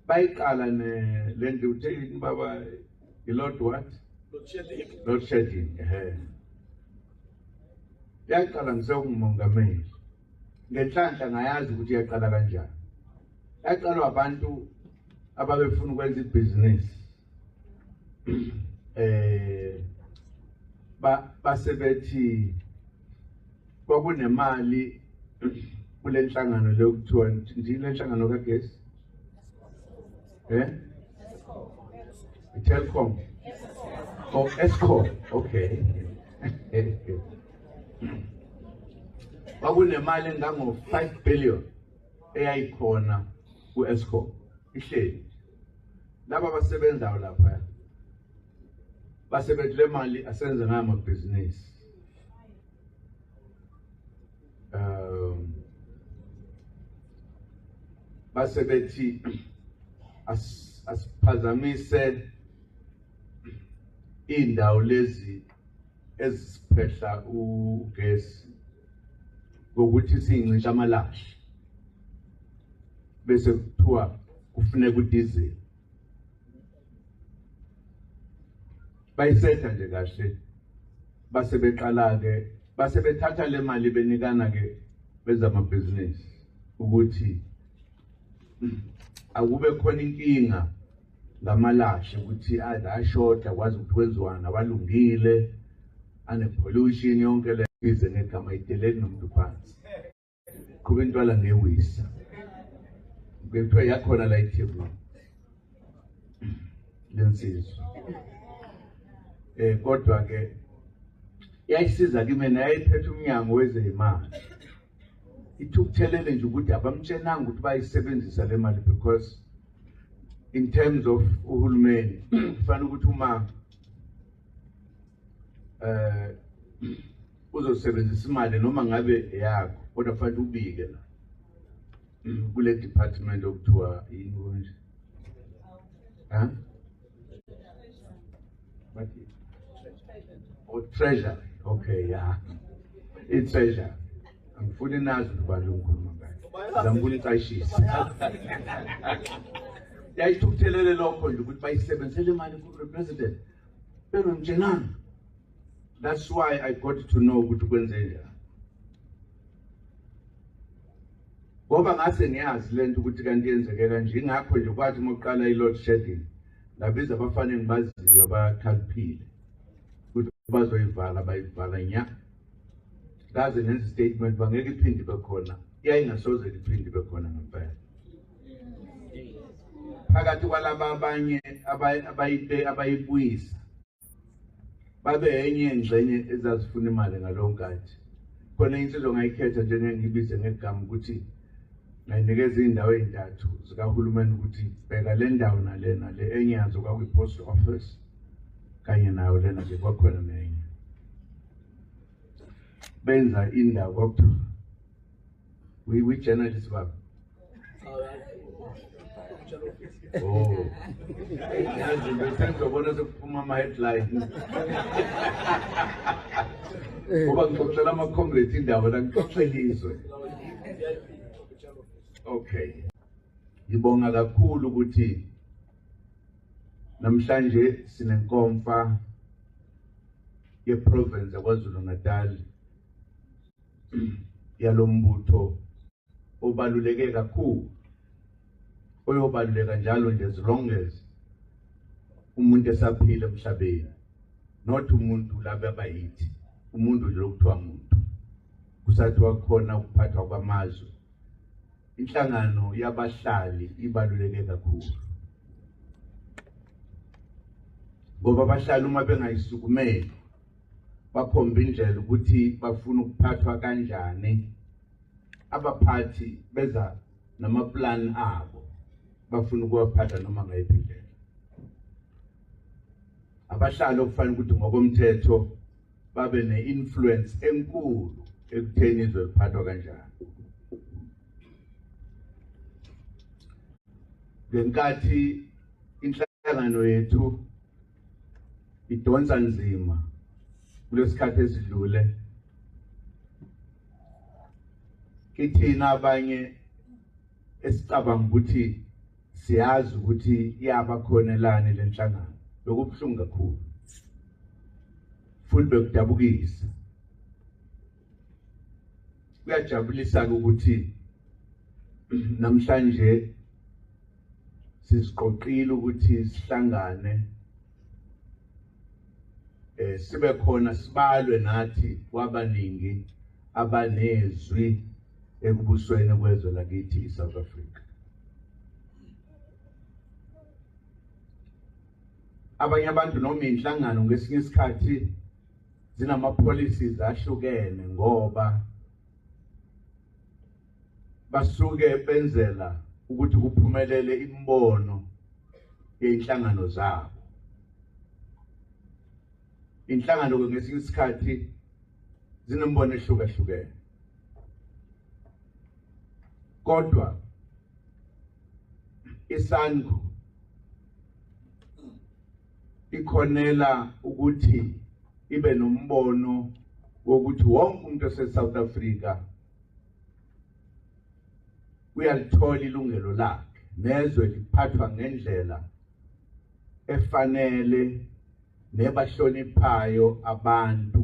bayiqala ne le ndlu uthe yini baba i-lord what lord shedding ehe yaqala ngisewungumongameli ngenhlanhla ngayazi ukuthi yaqala kanjani yaqalwa abantu ababefuna ukwenza ibhizinisi eh ba basebethi kwakunemali kule nhlangano le kuthiwa ndini le nhlangano kagesi eh Telkom oh Eskom okay kwakunemali engango 5 billion eyayikhona ku-escom ihleli laba abasebenzayo lapha basebenzi le mali asenze ngayo amabhizinisi um base bethi asiphazamise iy'ndawo lezi eziphehla ugesi ngokuthi sincisha amalashi bese kuthiwa kufuneka udiesel bayisetha nje kahle base beqala ke base bethatha le mali benikana ke bezamabhizinisi ukuthi akube khona inkinga ngamalashe ukuthi adla ashoda kwazi ukuthi kwenziwani awalungile anepollution yonke le bize ngegama ideleli nomuntu phansi qhuba intwala ngewisa bekuthiwa yakhona la ithebu lensizwa eh kodwa ke yayisiza kimi nayiphethe umnyango wezeyimali ithukuthelele nje ukuthi abamtshenanga ukuthi bayisebenzisa le mali because in terms of uhulumeni kufanele ukuthi uma eh uzosebenzisa imali noma ngabe yakho kodwa kufanele ubike la kule department okuthiwa yini konje ha bathi o oh, treasure okay yeah i treasure angifuni nazi ukuthi ubani lokukhuluma ngayo zamfuna icayishisa yayithukuthelele lokho nje ukuthi bayisebenzisele imali ku-represident beno njenani that's why i got to know ukuthi kwenze njani ngoba ngase ngiyazi lento ukuthi kanti yenzekela nje ngakho nje kwathi uma kuqala i-load shedding ngabiza abafana engibaziyo abakhaliphile ukuthi bazoyivala bayivala nya ngaze ngenza i-statement uba ngeke iphinde ibe khona yayingasoze liphinde ibe khona ngempela phakathi kwalaba abanye abayibuyisa babe enye yengxenye ezazifuna imali ngalowo nkathi khona insizwa ngayikhetha njengengibize ngegama ukuthi ngayinikeza iy'ndawo ey'ntathu zikahulumeni ukuthi bheka le ndawo nalena le enye yazo kwakwi-post office kanye nayo lena nje kwakhona nenye benza indawo kwakuthiwa We we journalists baba. Oh. Yazi ngithanda ukubona sekuphuma ama headlines. Ngoba ngixoxela ama comrades indawo la ngixoxela izwe. Okay. Ngibonga kakhulu ukuthi namhlanje sinenkomfa ye province yaKwaZulu Natal yalo mbutho obaluleke kakhulu oyobaluleka njalo nje as long as umuntu esaphila emhlabeni not umuntu laba abayithi umuntu nje lokuthiwa muntu kusathiwa khona ukuphathwa kwamazwe inhlangano yabahlali ibaluleke kakhulu ngoba abahlali uma bengayisukumeli bakhomba indlela ukuthi bafuna ukuphathwa kanjani abaphathi beza namaplan abo bafuna ukuwaphatha noma ngayiphi indlela abahlali okufanele ukuthi ngokomthetho babe ne-influence enkulu ekutheni izwe liphathwa kanjani ngenkathi inhlangano yethu idonsa nzima kulesikhathi esidlule kithina abanye esicabanga ukuthi siyazi ukuthi iyaba khonelani lenhlangano lokubuhlungu kakhulu futhi bekudabukisa kuyajabulisa-ke ukuthi namhlanje siziqoqile ukuthi sihlangane eh sibe khona sibalwe nathi kwabaningi abanezwi ekubusweni kwezwe lakithi iSouth Africa abanye abantu noma inhlangano ngesinye isikhathi zinama policies ahlukene ngoba basuke benzela ukuthi kuphumelele imibono yenhlangano zabo inhlangano ke ngesinye isikhathi zinembono ehlukahlukene kodwa isangu ikhonela ukuthi ibe nombono wokuthi wonke umuntu oseSouth Africa uyalithola ilungelo lakhe nezwe liphathwa ngendlela efanele nebahloniphayo abantu